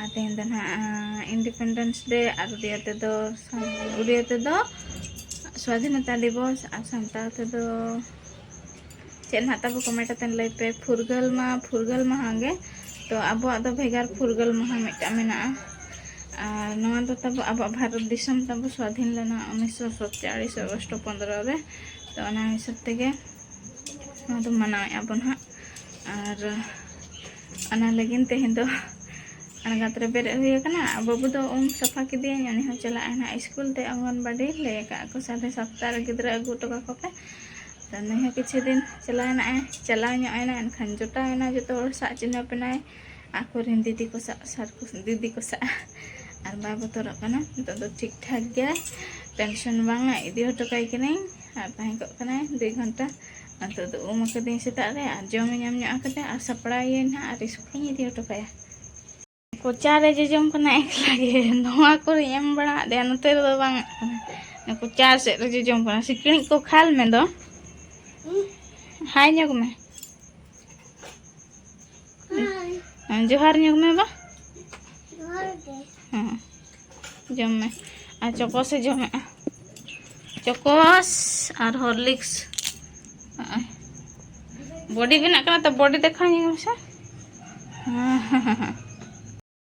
ᱟᱨ ᱛᱮᱦᱮᱧ ᱫᱚ ᱱᱟᱦᱟᱜ ᱤᱱᱰᱤᱯᱮᱱᱰᱮᱱᱥ ᱰᱮ ᱟᱨ ᱩᱰᱤᱭᱟ ᱛᱮᱫᱚ ᱩᱰᱤᱭᱟ ᱛᱮᱫᱚ ᱥᱣᱟᱫᱷᱤᱱᱚᱛᱟ ᱫᱤᱵᱚᱥ ᱟᱨ ᱥᱟᱱᱛᱟᱲ ᱛᱮᱫᱚ ᱪᱮᱫ ᱱᱟᱦᱟᱜ ᱛᱟᱵᱚ ᱠᱚᱢᱮᱱᱴ ᱠᱟᱛᱮᱫ ᱞᱟᱹᱭ ᱯᱮ ᱯᱷᱩᱨᱜᱟᱹᱞ ᱢᱟ ᱯᱷᱩᱨᱜᱟᱹᱞ ᱢᱟᱦᱟ ᱜᱮ ᱛᱚ ᱟᱵᱚᱣᱟᱜ ᱫᱚ ᱵᱷᱮᱜᱟᱨ ᱯᱷᱩᱨᱜᱟᱹᱞ ᱢᱟᱦᱟ ᱢᱤᱫᱴᱟᱝ ᱢᱮᱱᱟᱜᱼᱟ ᱟᱨ ᱱᱚᱣᱟ ᱫᱚ ᱛᱟᱵᱚ ᱟᱵᱚᱣᱟᱜ ᱵᱷᱟᱨᱚᱛ ᱫᱤᱥᱚᱢ ᱛᱟᱵᱚ ᱥᱣᱟᱫᱷᱤᱱ ᱞᱮᱱᱟ ᱩᱱᱤᱥᱥᱚ ᱥᱟᱛᱪᱟᱲᱤᱥ ᱟᱜᱚᱥᱴ ᱯᱚᱱᱫᱨᱚ ᱨᱮ ᱛᱚ ᱚᱱᱟ ᱦᱤᱥᱟᱹᱵ ᱛᱮᱜᱮ ᱱᱚᱣᱟ ᱫᱚ ᱢᱟᱱᱟᱣᱮᱫᱼᱟ ᱵᱚᱱ ᱦᱟᱸᱜ ᱟᱨ ᱚᱱᱟ ᱞᱟᱹᱜᱤᱫ ᱛᱮᱦᱮᱧ ᱫᱚ ᱟᱬᱜᱟᱛ ᱨᱮ ᱵᱮᱨᱮᱫ ᱦᱩᱭ ᱟᱠᱟᱱᱟ ᱵᱟᱹᱵᱩ ᱫᱚ ᱩᱢ ᱥᱟᱯᱷᱟ ᱠᱮᱫᱮᱭᱟᱹᱧ ᱩᱱᱤ ᱦᱚᱸ ᱪᱟᱞᱟᱜ ᱟᱭ ᱱᱟᱦᱟᱜ ᱥᱠᱩᱞ ᱛᱮ ᱚᱝᱜᱚᱱᱵᱟᱰᱤ ᱞᱟᱹᱭ ᱟᱠᱟᱫ ᱠᱚ ᱥᱟᱲᱮ ᱥᱟᱛᱴᱟ ᱨᱮ ᱜᱤᱫᱽᱨᱟᱹ ᱟᱹᱜᱩ ᱦᱚᱴᱚ ᱠᱟᱠᱚ ᱯᱮ ᱛᱚ ᱱᱩᱭ ᱦᱚᱸ ᱠᱤᱪᱷᱩ ᱫᱤᱱ ᱪᱟᱞᱟᱣ ᱮᱱᱟ ᱪᱟᱞᱟᱣ ᱧᱚᱜ ᱮᱱᱟ ᱮᱱᱠᱷᱟᱱ ᱡᱚᱴᱟᱣ ᱮᱱᱟ ᱡᱚᱛᱚ ᱦᱚᱲ ᱥᱟᱜ ᱪᱤᱱᱦᱟᱹᱯ ᱮᱱᱟᱭ ᱟᱠᱚ ᱨᱮᱱ ᱫᱤᱫᱤ ᱠᱚ ᱥᱟᱜ ᱥᱟᱨ ᱠᱚ ᱫᱤᱫᱤ ᱠᱚ ᱥᱟᱜ ᱟᱨ ᱵᱟᱭ ᱵᱚᱛᱚᱨᱚᱜ ᱠᱟᱱᱟ ᱱᱤᱛᱚᱜ ᱫᱚ ᱴᱷᱤᱠ ᱴᱷᱟᱠ ᱜᱮᱭᱟᱭ ᱴᱮᱱᱥᱚᱱ ᱵᱟᱝᱟ ᱤᱫᱤ ᱦᱚᱴᱚ ᱠᱟᱭ ᱠᱟᱹᱱᱟᱹᱧ ᱟᱨ ᱛᱟᱦᱮᱸ ᱠᱚᱜ ᱠᱟᱱᱟᱭ ᱫᱩᱭ ᱜᱷᱚᱱᱴᱟ ᱱᱤᱛᱚᱜ ᱫᱚ ᱩᱢ ᱟᱠᱟᱫᱟᱹᱧ ᱥᱮᱛᱟᱜ ᱨᱮ ᱟᱨ ᱡᱚᱢᱮ ᱧᱟᱢ ᱧᱚᱜ ᱟᱠᱟᱫᱟ ᱟᱨ ᱥᱟᱯᱲᱟᱣᱮᱭᱟᱹᱧ ᱦᱟᱸᱜ ᱟᱨ ᱤᱥᱠᱩᱞᱤᱧ ᱤᱫᱤ ᱦᱚᱴᱚ ᱠᱟᱭᱟ ᱠᱚᱪᱟ ᱨᱮ ᱡᱚᱡᱚᱢ ᱠᱟᱱᱟ ᱮᱠᱞᱟ ᱜᱮ ᱱᱚᱣᱟ ᱠᱚᱨᱮᱧ ᱮᱢ ᱵᱟᱲᱟ ᱟᱫᱮᱭᱟ ᱱᱚᱛᱮ ᱨᱮᱫᱚ ᱵᱟᱝ ᱠᱟᱱᱟ ᱠᱚᱪᱟ ᱥᱮᱫ ᱨᱮ ᱡᱚᱡᱚᱢ ᱠᱟᱱᱟ ᱥᱤᱠᱲᱤᱡ ᱠᱚ ᱠᱷᱟᱞ ᱢᱮ ᱫᱚ ᱦᱟᱭ ᱧᱚᱜ ᱢᱮ ᱦᱮᱸ ᱡᱚᱦᱟᱨ ᱧᱚᱜ ᱢᱮ ᱵᱟ ᱦᱮᱸ ᱡᱚᱢ ᱢᱮ ᱟᱨ ᱪᱚᱠᱚᱥᱮ ᱡᱚᱢᱮᱜᱼᱟ ᱪᱚᱠᱚᱥ ᱟᱨ ᱦᱚᱨᱞᱤᱠᱥ ᱦᱚᱸᱜᱼᱚᱭ ᱵᱚᱰᱤ ᱵᱮᱱᱟᱜ ᱠᱟᱱᱟ ᱛᱚ ᱵᱚᱰᱤ ᱫᱮᱠᱷᱟᱣ ᱧᱚᱜ ᱢᱮᱥᱮ ᱦᱮᱸ ᱦᱮᱸ ᱦᱮᱸ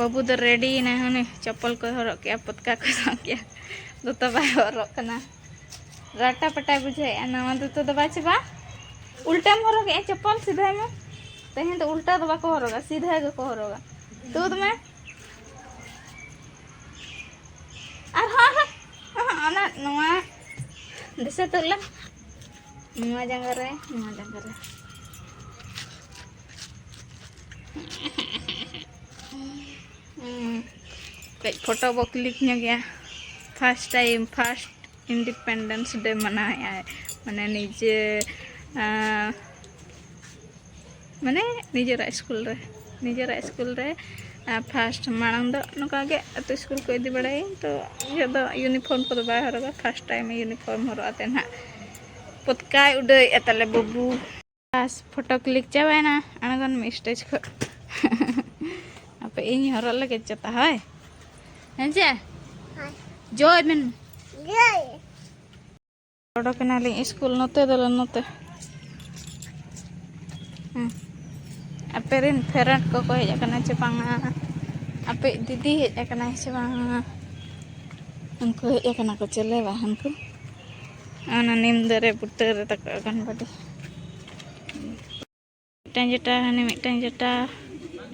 ᱵᱟᱹᱵᱩ ᱫᱚ ᱨᱮᱰᱤᱭᱮᱱᱟᱭ ᱦᱟᱱᱮ ᱪᱚᱯᱚᱞ ᱠᱚᱭ ᱦᱚᱨᱚᱜ ᱠᱮᱜᱼᱟ ᱯᱚᱛᱠᱟ ᱠᱚᱭ ᱥᱟᱵ ᱠᱮᱜᱼᱟ ᱫᱚᱛᱚ ᱵᱟᱭ ᱦᱚᱨᱚᱜ ᱠᱟᱱᱟ ᱨᱟᱴᱟ ᱯᱟᱴᱟᱭ ᱵᱩᱡᱷᱟᱹᱣᱮᱜᱼᱟ ᱱᱟᱣᱟ ᱫᱚᱛᱚ ᱫᱚ ᱵᱟᱭ ᱪᱟᱵᱟ ᱩᱞᱴᱟᱢ ᱦᱚᱨᱚᱜᱮᱜᱼᱟ ᱪᱚᱯᱚᱞ ᱥᱤᱫᱷᱟᱭ ᱢᱮ ᱛᱮᱦᱮᱧ ᱫᱚ ᱩᱞᱴᱟ ᱫᱚ ᱵᱟᱠᱚ ᱦᱚᱨᱚᱜᱟ ᱥᱤᱫᱷᱟ ᱜᱮᱠᱚ ᱦᱚᱨᱚᱜᱟ ᱛᱩᱫ ᱢᱮ ᱟᱨᱦᱚᱸ ᱟᱨᱦᱚᱸ ᱚᱱᱟ ᱱᱚᱣᱟ ᱫᱤᱥᱟᱹ ᱛᱩᱫ ᱞᱮᱢ ᱱᱚᱣᱟ ᱡᱟᱸᱜᱟ ᱨᱮ ᱱᱚᱣᱟ ᱡᱟᱸᱜᱟ ᱨᱮ ᱠᱟᱹᱡ ᱯᱷᱳᱴᱳ ᱵᱚ ᱠᱞᱤᱠ ᱧᱚᱜᱮᱜᱼᱟ first time first independence day ᱢᱟᱱᱟᱣᱮᱫᱼᱟᱭ ᱢᱟᱱᱮ ᱱᱤᱡᱮ ᱢᱟᱱᱮ ᱱᱤᱡᱮᱨᱟᱜ ᱥᱠᱩᱞ ᱨᱮ ᱱᱤᱡᱮᱨᱟᱜ ᱥᱠᱩᱞ ᱨᱮ ᱯᱷᱟᱥᱴ ᱢᱟᱲᱟᱝ ᱫᱚ ᱱᱚᱝᱠᱟ ᱜᱮ ᱟᱛᱳ ᱥᱠᱩᱞ ᱠᱚ ᱤᱫᱤ ᱵᱟᱲᱟᱭᱟᱹᱧ ᱛᱚ ᱤᱧᱟᱹᱜ ᱫᱚ ᱤᱭᱩᱱᱤᱯᱷᱚᱨᱢ ᱠᱚᱫᱚ ᱵᱟᱭ ᱦᱚᱨᱚᱜᱟ ᱯᱷᱟᱥᱴ ᱴᱟᱭᱤᱢ ᱤᱭᱩᱱᱤᱯᱷᱚᱨᱢ ᱦᱚᱨᱚᱜ ᱟᱛᱮ ᱱᱟᱦᱟᱜ ᱯᱚᱛᱠᱟᱭ ᱩᱰᱟᱹᱣᱮᱫᱼᱟ ᱛᱟᱞᱮ ᱵᱟᱹᱵᱩ ᱵᱟᱥ ᱯᱷᱳᱴᱳ ᱠᱞᱤᱠ ᱪᱟᱵᱟᱭᱮᱱᱟ ᱟᱬᱜᱚᱱ ᱢᱮ ᱥᱴᱮᱡᱽ ᱠᱷᱚᱱ ᱟᱯᱮ ᱤᱧ ᱦᱚᱨᱚᱜ ᱞᱟᱹᱜᱤᱫ ᱪᱚᱛᱟ ᱦᱳᱭ ᱦᱮᱸ ᱪᱮ ᱡᱚᱭ ᱢᱮᱱ ᱚᱰᱚᱠ ᱮᱱᱟᱞᱤᱧ ᱥᱠᱩᱞ ᱱᱚᱛᱮ ᱫᱚᱞᱮ ᱱᱚᱛᱮ ᱟᱯᱮ ᱨᱮᱱ ᱯᱷᱮᱨᱮᱱᱴ ᱠᱚᱠᱚ ᱦᱮᱡ ᱟᱠᱟᱱᱟ ᱪᱮ ᱵᱟᱝᱟ ᱟᱯᱮ ᱫᱤᱫᱤ ᱦᱮᱡ ᱟᱠᱟᱱᱟᱭ ᱥᱮ ᱵᱟᱝᱟ ᱩᱱᱠᱩ ᱦᱮᱡ ᱟᱠᱟᱱᱟ ᱠᱚ ᱪᱮᱞᱮ ᱵᱟᱝ ᱩᱱᱠᱩ ᱚᱱᱟ ᱱᱤᱢ ᱫᱟᱨᱮ ᱵᱩᱴᱟᱹ ᱨᱮ ᱛᱟᱠᱚ ᱚᱜᱚᱱᱵᱟᱰᱤ ᱢᱤᱫᱴᱟᱝ ᱡᱮᱴᱟ ᱦᱟᱱᱮ ᱢᱤᱫᱴᱟᱝ ᱡᱮᱴᱟ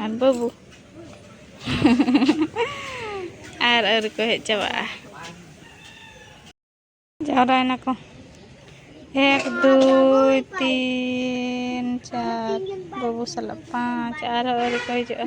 ᱟᱨ ᱵᱟᱹᱵᱩ ᱟᱨ ᱟᱹᱣᱨᱤ ᱠᱚ ᱦᱮᱡ ᱪᱟᱵᱟᱜᱼᱟ ᱡᱟᱣᱨᱟᱭᱮᱱᱟ ᱠᱚ ᱮᱠ ᱫᱩᱭ ᱛᱤᱱ ᱪᱟᱨ ᱵᱟᱹᱵᱩ ᱥᱟᱞᱟᱜ ᱯᱟᱸᱪ ᱟᱨᱦᱚᱸ ᱟᱹᱣᱨᱤ ᱠᱚ ᱦᱤᱡᱩᱜᱼᱟ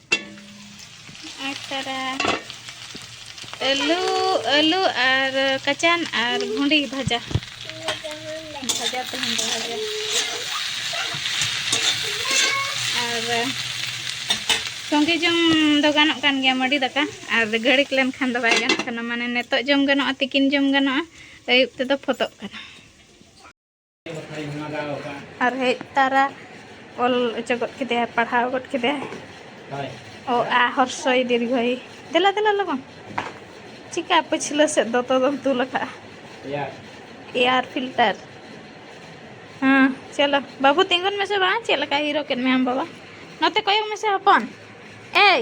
ᱟᱨ ᱛᱟᱨᱟ ᱟᱹᱞᱩ ᱟᱹᱞᱩ ᱟᱨ ᱠᱟᱪᱟᱱ ᱟᱨ ᱵᱷᱩᱸᱰᱤ ᱵᱷᱟᱡᱟ ᱵᱷᱟᱡᱟ ᱛᱮᱦᱮᱧ ᱫᱚ ᱵᱷᱟᱡᱟ ᱟᱨ ᱥᱚᱸᱜᱮ ᱡᱚᱢ ᱫᱚ ᱜᱟᱱᱚᱜ ᱠᱟᱱ ᱜᱮᱭᱟ ᱢᱟᱹᱰᱤ ᱫᱟᱠᱟ ᱟᱨ ᱜᱷᱟᱹᱲᱤᱠ ᱞᱮᱱᱠᱷᱟᱱ ᱫᱚ ᱵᱟᱭ ᱜᱟᱱᱚᱜ ᱠᱟᱱᱟ ᱢᱟᱱᱮ ᱱᱤᱛᱚᱜ ᱡᱚᱢ ᱜᱟᱱᱚᱜᱼᱟ ᱛᱤᱠᱤᱱ ᱡᱚᱢ ᱜᱟᱱᱚᱜᱼᱟ ᱟᱹᱭᱩᱵ ᱛᱮᱫᱚ ᱯᱷᱚᱛᱚᱜ ᱠᱟᱱᱟ ᱟᱨ ᱦᱮᱡ ᱛᱟᱨᱟ ᱚᱞ ᱚᱪᱚ ᱜᱚᱫ ᱠᱮᱫᱮᱭᱟᱭ ᱯᱟᱲᱦᱟᱣ ᱜᱚᱫ ᱠᱮᱫᱟᱭ ᱚ ᱟ ᱦᱚᱨᱥᱚᱭ ᱫᱤᱨᱜᱷᱚᱭ ᱫᱮᱞᱟ ᱫᱮᱞᱟ ᱞᱚᱜᱚᱱ ᱪᱤᱠᱟ ᱯᱟᱹᱪᱷᱞᱟᱹ ᱥᱮᱫ ᱫᱚᱛᱚ ᱫᱚᱢ ᱛᱩᱞ ᱟᱠᱟᱫᱼᱟ ᱮᱭᱟᱨ ᱯᱷᱤᱞᱴᱟᱨ ᱦᱮᱸ ᱪᱚᱞᱚ ᱵᱟᱹᱵᱩ ᱛᱤᱸᱜᱩᱱ ᱢᱮᱥᱮ ᱵᱟᱝ ᱪᱮᱫ ᱞᱮᱠᱟ ᱦᱤᱨᱳ ᱠᱮᱫ ᱢᱮᱭᱟᱢ ᱵᱟᱵᱟ ᱱᱚᱛᱮ ᱠᱚᱭᱚᱜ ᱢᱮᱥᱮ ᱦᱚᱯᱚᱱ ᱮᱭ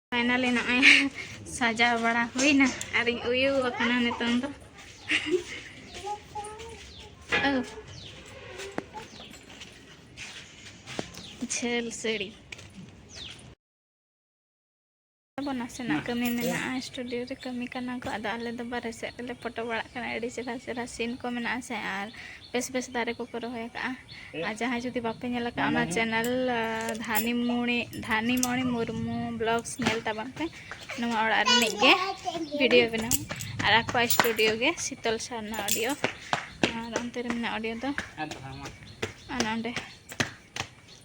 ᱯᱷᱟᱭᱱᱟᱞᱤ ᱱᱚᱜᱼᱚᱭ ᱥᱟᱡᱟᱣ ᱵᱟᱲᱟ ᱦᱩᱭᱱᱟ ᱟᱨᱤᱧ ᱩᱭᱩ ᱟᱠᱟᱱᱟ ᱱᱤᱛᱚᱝ ᱫᱚ ᱡᱷᱟᱹᱞ ᱥᱟᱹᱲᱤ ᱟᱵᱚ ᱱᱟᱥᱮᱱᱟᱜ ᱠᱟᱹᱢᱤ ᱢᱮᱱᱟᱜᱼᱟ ᱥᱴᱩᱰᱤᱭᱳ ᱨᱮ ᱠᱟᱹᱢᱤ ᱠᱟᱱᱟ ᱠᱚ ᱟᱫᱚ ᱟᱞᱮ ᱫᱚ ᱵᱟᱨᱦᱮ ᱥᱮᱫ ᱨᱮᱞᱮ ᱯᱷᱳᱴᱳ ᱵᱟᱲᱟᱜ ᱠᱟᱱᱟ ᱟᱹᱰᱤ ᱪᱮᱦᱨᱟ ᱪᱮᱦᱨᱟ ᱥᱤᱱ ᱠᱚ ᱢᱮᱱᱟᱜᱼᱟ ᱥᱮ ᱟᱨ ᱵᱮᱥ ᱵᱮᱥ ᱫᱟᱨᱮ ᱠᱚᱯᱮ ᱨᱚᱦᱚᱭ ᱟᱠᱟᱫᱼᱟ ᱟᱨ ᱡᱟᱦᱟᱸᱭ ᱡᱩᱫᱤ ᱵᱟᱯᱮ ᱧᱮᱞ ᱟᱠᱟᱫᱼᱟ ᱚᱱᱟ ᱪᱮᱱᱮᱞ ᱫᱷᱟᱱᱤᱢᱚᱬᱤ ᱫᱷᱟᱱᱤᱢᱚᱬᱤ ᱢᱩᱨᱢᱩ ᱵᱞᱚᱜᱥ ᱧᱮᱞ ᱛᱟᱵᱚᱱ ᱯᱮ ᱱᱚᱣᱟ ᱚᱲᱟᱜ ᱨᱤᱱᱤᱡ ᱜᱮ ᱵᱷᱤᱰᱤᱭᱳ ᱵᱮᱱᱟᱣ ᱟᱨ ᱟᱠᱚᱣᱟᱜ ᱥᱴᱩᱰᱤᱭᱳ ᱜᱮ ᱥᱤᱛᱚᱞ ᱥᱟᱨᱱᱟ ᱚᱰᱤᱭᱳ ᱟᱨ ᱚᱱᱛᱮ ᱨᱮ ᱢᱮᱱᱟᱜᱼᱟ ᱚᱰᱤᱭᱳ ᱫᱚ ᱚᱱᱟ ᱚᱸᱰᱮ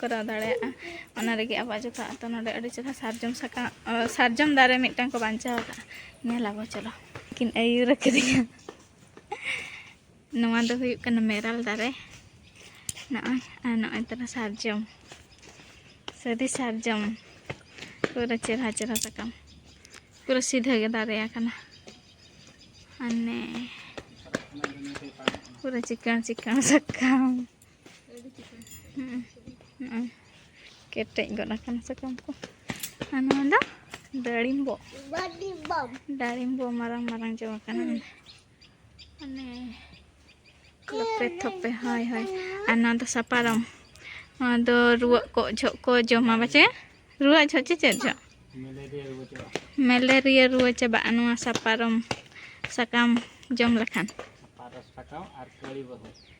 ᱠᱚᱨᱟᱣ ᱫᱟᱲᱮᱭᱟᱜᱼᱟ ᱚᱱᱟ ᱨᱮᱜᱮ ᱟᱵᱚᱣᱟᱜ ᱡᱚᱛᱚ ᱟᱛᱳ ᱱᱚᱰᱮ ᱟᱹᱰᱤ ᱪᱮᱦᱨᱟ ᱥᱟᱨᱡᱚᱢ ᱥᱟᱠᱟᱢ ᱥᱟᱨᱡᱚᱢ ᱫᱟᱨᱮ ᱢᱤᱫᱴᱟᱝ ᱠᱚ ᱵᱟᱧᱪᱟᱣ ᱟᱠᱟᱫᱼᱟ ᱧᱮᱞ ᱟᱵᱚ ᱪᱚᱞᱚ ᱠᱤᱱ ᱟᱹᱭᱩᱨ ᱟᱠᱟᱫᱤᱧᱟ ᱱᱚᱣᱟ ᱫᱚ ᱦᱩᱭᱩᱜ ᱠᱟᱱᱟ ᱢᱮᱨᱟᱞ ᱫᱟᱨᱮ ᱱᱚᱜᱼᱚᱭ ᱟᱨ ᱱᱚᱜᱼᱚᱭ ᱛᱟᱨᱟ ᱥᱟᱨᱡᱚᱢ ᱥᱟᱹᱨᱤ ᱥᱟᱨᱡᱚᱢ ᱯᱩᱨᱟᱹ ᱪᱮᱦᱨᱟ ᱪᱮᱦᱨᱟ ᱥᱟᱠᱟᱢ ᱯᱩᱨᱟᱹ ᱥᱤᱫᱷᱟᱹ ᱜᱮ ᱫᱟᱨᱮ ᱟᱠᱟᱱᱟ ᱢᱟᱱᱮ ᱯᱩᱨᱟᱹ ᱪᱤᱠᱟᱹᱬ ᱪᱤᱠᱟᱹᱬ ᱥᱟᱠᱟᱢ ᱱᱚᱜᱼᱚᱭ ᱠᱮᱴᱮᱡ ᱜᱚᱫ ᱟᱠᱟᱱᱟ ᱥᱟᱠᱟᱢ ᱠᱚ ᱟᱨ ᱱᱚᱣᱟ ᱫᱚ ᱰᱟᱹᱲᱤᱢᱵᱚ ᱰᱟᱹᱲᱤᱢᱵᱚ ᱢᱟᱨᱟᱝ ᱢᱟᱨᱟᱝ ᱡᱚ ᱟᱠᱟᱱᱟ ᱢᱟᱱᱮ ᱞᱚᱯᱮ ᱛᱷᱚᱯᱮ ᱦᱳᱭ ᱦᱳᱭ ᱟᱨ ᱱᱚᱣᱟ ᱫᱚ ᱥᱟᱯᱟᱨᱚᱢ ᱱᱚᱣᱟ ᱫᱚ ᱨᱩᱣᱟᱹᱜ ᱠᱚ ᱡᱷᱚᱜ ᱠᱚ ᱡᱚᱢᱟ ᱵᱟᱪᱮ ᱨᱩᱣᱟᱹᱜ ᱡᱷᱚᱜ ᱪᱮ ᱪᱮᱫ ᱡᱷᱚᱜ ᱢᱮᱞᱮᱨᱤᱭᱟ ᱨᱩᱣᱟᱹ ᱪᱟᱵᱟᱜᱼᱟ ᱱᱚᱣᱟ ᱥᱟᱯᱟᱨᱚᱢ ᱥᱟᱠᱟᱢ ᱡᱚᱢ ᱞᱮᱠᱷᱟᱱ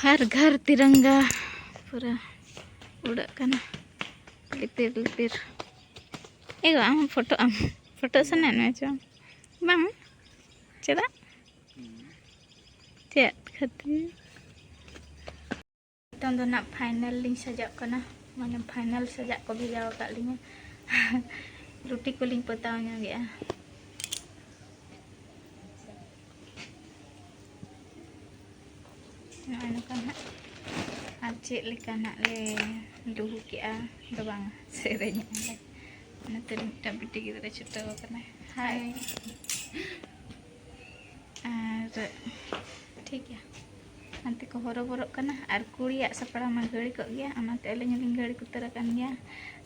ᱦᱟᱨ ᱜᱷᱟᱨ ᱛᱤᱨᱟᱝᱜᱟ ᱯᱩᱨᱟᱹ ᱩᱰᱟᱹᱜ ᱠᱟᱱᱟ ᱞᱤᱯᱤᱨ ᱞᱤᱯᱤᱨ ᱮᱜᱚ ᱟᱢ ᱯᱷᱳᱴᱳ ᱟᱢ ᱯᱷᱳᱴᱳ ᱥᱟᱱᱟᱭᱮᱫ ᱢᱮᱭᱟ ᱪᱚᱝ ᱵᱟᱝ ᱪᱮᱫᱟᱜ ᱪᱮᱫ ᱠᱷᱟᱹᱛᱤᱨ ᱱᱤᱛᱚᱝ ᱫᱚ ᱱᱟᱜ ᱯᱷᱟᱭᱱᱟᱞ ᱞᱤᱧ ᱥᱟᱡᱟᱜ ᱠᱟᱱᱟ ᱢᱟᱱᱮ ᱯᱷᱟᱭᱱᱟᱞ ᱥᱟᱡᱟᱜ ᱠᱚ ᱵᱷᱮᱡᱟ ᱟᱠᱟᱫ ᱞᱤᱧᱟ ᱨᱩᱴᱤ ᱠᱚᱞᱤᱧ ᱯᱚᱛᱟᱣ ᱧᱚᱜᱮᱜᱼᱟ ᱱᱚᱜᱼᱚᱭ ᱱᱚᱝᱠᱟ ᱱᱟᱜ ᱟᱨ ᱪᱮᱫ ᱞᱮᱠᱟ ᱱᱟᱜ ᱞᱮ ᱫᱩᱦᱩ ᱠᱮᱜᱼᱟ ᱫᱚ ᱵᱟᱝ ᱥᱮᱨᱮᱧᱮᱜᱼᱟ ᱞᱮ ᱚᱱᱟᱛᱮ ᱢᱤᱫᱴᱟᱝ ᱵᱤᱴᱤ ᱜᱤᱫᱽᱨᱟᱹ ᱪᱷᱩᱴᱟᱹᱣ ᱟᱠᱟᱱᱟᱭ ᱦᱟᱭ ᱟᱨ ᱴᱷᱤᱠ ᱜᱮᱭᱟ ᱦᱟᱱᱛᱮ ᱠᱚ ᱦᱚᱨᱚᱵᱚᱨᱚᱜ ᱠᱟᱱᱟ ᱟᱨ ᱠᱩᱲᱤᱭᱟᱜ ᱥᱟᱯᱲᱟᱣ ᱢᱟ ᱜᱷᱟᱹᱲᱤ ᱠᱚᱜ ᱜᱮᱭᱟ ᱚᱱᱟᱛᱮ ᱟᱹᱞᱤᱧ ᱦᱚᱸᱞᱤᱧ ᱜᱷᱟᱹᱲᱤ ᱩᱛᱟᱹᱨ ᱟᱠᱟᱱ ᱜᱮᱭᱟ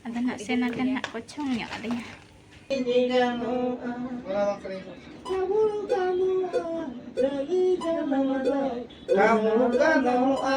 ᱟᱫᱚ ᱱᱟᱜ ᱥᱮᱱ ᱟᱠᱟᱱ ᱱᱟᱜ ᱠᱚ ᱪᱷᱚᱝ ᱧᱚᱜ ᱟᱹᱞᱤᱧᱟ Kamu ganoa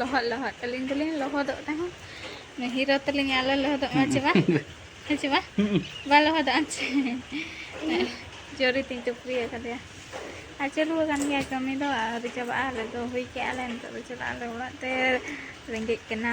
ᱞᱚᱦᱚᱫ ᱞᱚᱦᱚᱫ ᱟᱹᱞᱤᱧ ᱫᱚᱞᱤᱧ ᱞᱚᱦᱚᱫᱚᱜ ᱛᱟᱦᱮᱸ ᱦᱤᱨᱳ ᱛᱟᱹᱞᱤᱧ ᱟᱞᱚ ᱞᱚᱦᱚᱫᱚᱜ ᱢᱟ ᱪᱮ ᱵᱟᱝ ᱦᱮᱸ ᱪᱮ ᱵᱟᱝ ᱵᱟᱭ ᱞᱚᱦᱚᱫᱚᱜᱼᱟ ᱪᱮ ᱡᱚᱨᱤ ᱛᱤᱧ ᱪᱩᱯᱨᱤ ᱟᱠᱟᱫᱮᱭᱟ ᱟᱨ ᱪᱟᱹᱞᱩ ᱟᱠᱟᱱ ᱜᱮᱭᱟ ᱠᱟᱹᱢᱤ ᱫᱚ ᱟᱹᱣᱨᱤ ᱪᱟᱵᱟᱜᱼᱟ ᱟᱞᱮ ᱫᱚ ᱦᱩᱭ ᱠᱮᱜᱼᱟ ᱞᱮ ᱱᱤᱛᱚᱜ ᱫᱚ ᱪᱟᱞᱟᱜ ᱟᱞᱮ ᱚᱲᱟᱜ ᱛᱮ ᱨᱮᱸᱜᱮᱡ ᱠᱟᱱᱟ